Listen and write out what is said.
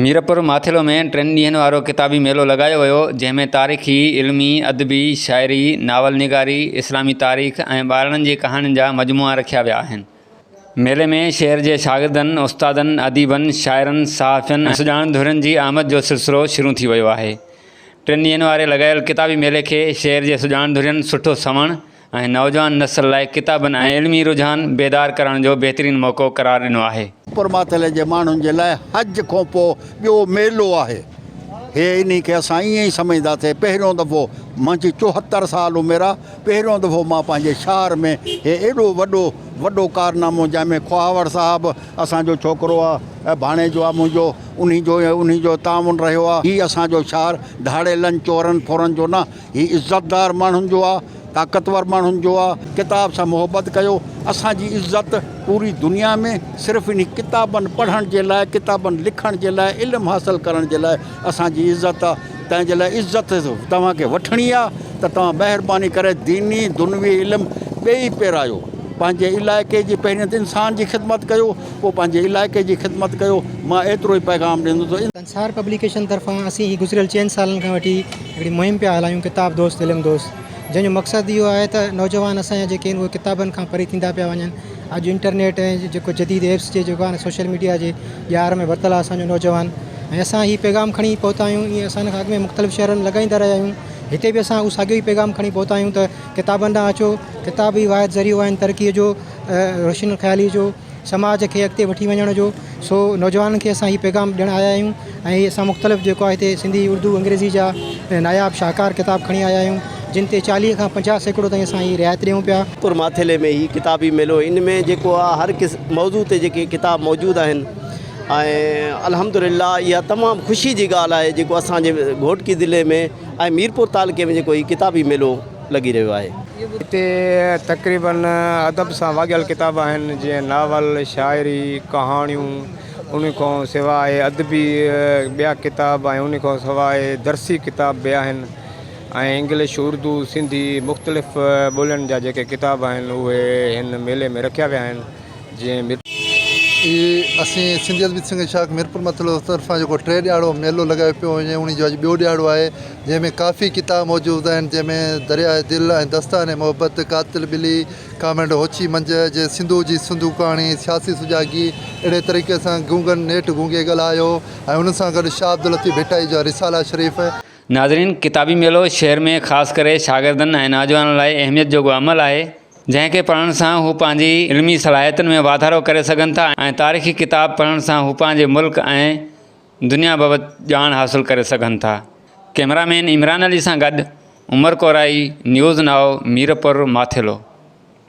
ميرپور ماٿيلو ۾ ٽن ڏينهن وارو ڪتابي ميلو لڳايو ويو، جنهن ۾ تاريخي، علمي، ادبي، شاعري، ناول نگاري، اسلامي تاريخ ۽ ٻارڙن جي ڪهاڻين جا مجموعا رکيا ويا آهن. ميلي ۾ شهر جي شاگردن، استادن، اديبن، شاعرن، صحافين ۽ سڄاڻن ڌرين جي آمد جو سلسلو شروع ٿي ويو آهي. ٽن ڏينهن واري لڳايل ڪتابي ميلي کي شهر جي سڄاڻن ڌرين سٺو سنوڻ، ۽ نوجوان نسل لاء ڪتابن ۽ علمي رجحان بيدار ڪرڻ جو بهترين موقعو قرار ڏنو آهي. پرماتلي جي ماڻهن جي لاء حج کان پوء ٻيو ميلو آهي. هي انهي کي اسان ائين ئي سمجهندا ٿي پهريون دفعو منهنجي چوهتر سال عمر آ پهريون دفعو مان پنهنجي شهر ۾ هي ايڏو وڏو وڏو ڪارنامو جنهن ۾ خواهور صاحب اسان جو ڇوڪرو آ ۽ ڀاڻيجو آ منهنجو انهي جو انهي جو تعاون رهيو آ هي اسان جو شهر ڌاڙيلن چورن ڦرن جو نه هي عزتدار ماڻهن جو آ، طاقتور ماڻهن جو آ. ڪتاب سان محبت ڪيو. اسان جي عزت پوري دنيا ۾، صرف انهي ڪتابن پڙهڻ جي لاء، ڪتابن لکڻ جي لاء، علم حاصل ڪرڻ جي لاء اسان جي عزت آ. تنهن جي لاء عزت توهان کي وٺڻي آ ته توهان مهرباني ڪري ديني، دنوي علم ٻئي پيرايو. پنهنجي علائقي جي پهرين ته انسان جي خدمت ڪيو، پوء پنهنجي علائقي جي خدمت ڪيو. مان ايترو ئي پيغام ڏيندس. سار پبليڪيشن طرفان اسين هي گذريل چئن سالن کان وٺي هڪڙي مهم پيا هلايون ڪتاب دوست علم دوست جنهن جو مقصد اهو آهي ته نوجوان اسان جا جيڪي آهن اهي ڪتابن کان پري ٿيندا پيا وڃن اڄ انٽرنيٽ ۽ جيڪو جديد ايپس جي جيڪو آهي سوشل ميڊيا جي ڄار ۾ ورتل آهي اسان جو نوجوان ۽ اسان هي پيغام کڻي پهتا آهيون ائين اسان کان اڳ ۾ مختلف شهرن ۾ لڳائيندا رهيا آهيون هتي به اسان اهو ساڳيو ئي پيغام کڻي پهتا آهيون ته ڪتابن ڏانهن اچو ڪتاب ئي واحد ذريعو آهن ترقيء جو روشن خيالي جو سماج کي اڳتي وٺي وڃڻ جو سو نوجوانن کي اسان هي پيغام ڏيڻ آيا آهيون ۽ اسان مختلف جيڪو آهي هتي سنڌي اردو انگريزي جا ناياب شاهڪار ڪتاب کڻي آيا آهيون جن تي چاليهه کان پنجاهه سيڪڙو تائين اسان هي رعايت ڏيون پيا. پور ماٿيلي ۾ هي ڪتابي ميلو ان ۾ جيڪو آهي هر ڪس موضوع تي جيڪي ڪتاب موجود آهن ۽ الحمدلله اها تمام خوشي جي ڳالهه آهي جيڪو اسانجي گهوٽڪي ضلعي ۾ ۽ ميرپور تعلقي ۾ جيڪو هي ڪتابي ميلو لڳي رهيو آهي. هتي تقريبن ادب سان واڳيل ڪتاب آهن، جيئن ناول، شاعري، ڪهاڻيون، ان کان سواء ادبي ٻيا ڪتاب ۽ ان کان سواء درسي ڪتاب به آهن ۽ انگلش، اردو، سنڌي مختلف ٻولين جا جيڪي ڪتاب آهن، اهي هن ميلي ۾ رکيا ويا آهن. جنهن ميرپور. اي اسين سنڌي ادبي سنگت شاخ ميرپور متلو طرفان جيڪو ٽي ڏياڙو ميلو لڳايو پيو وڃي انهي جو اڄ ٻيو ڏياڙو آهي جنهن ۾ ڪافي ڪتاب موجود آهن جنهن ۾ درياء دل ۽ دستان محبت قاتل ٻلي ڪامريڊ هوچي منجهه جي سنڌو جي سنڌو ڪهاڻي سياسي سجاڳي اهڙي طريقي سان گونگن نيٺ گونگي ڳالهايو ۽ ان سان گڏ شاهه عبداللطيف ڀٽائي جا رسالا شريف. ناظرين ڪتابي ميلو شهر ۾ خاص ڪري شاگردن ۽ نوجوانن لاء اهميت جوڳو عمل آهي، جنهن کي پڙهڻ سان هو پنهنجي علمي صلاحيتن ۾ واڌارو ڪري سگهن ٿا ۽ تاريخي ڪتاب پڙهڻ سان هو پنهنجي ملڪ ۽ دنيا بابت ڄاڻ حاصل ڪري سگهن ٿا. ڪئميرا مين عمران علي سان گڏ عمر ڪورائي نيوز نائو ميرپور ماٿيلو.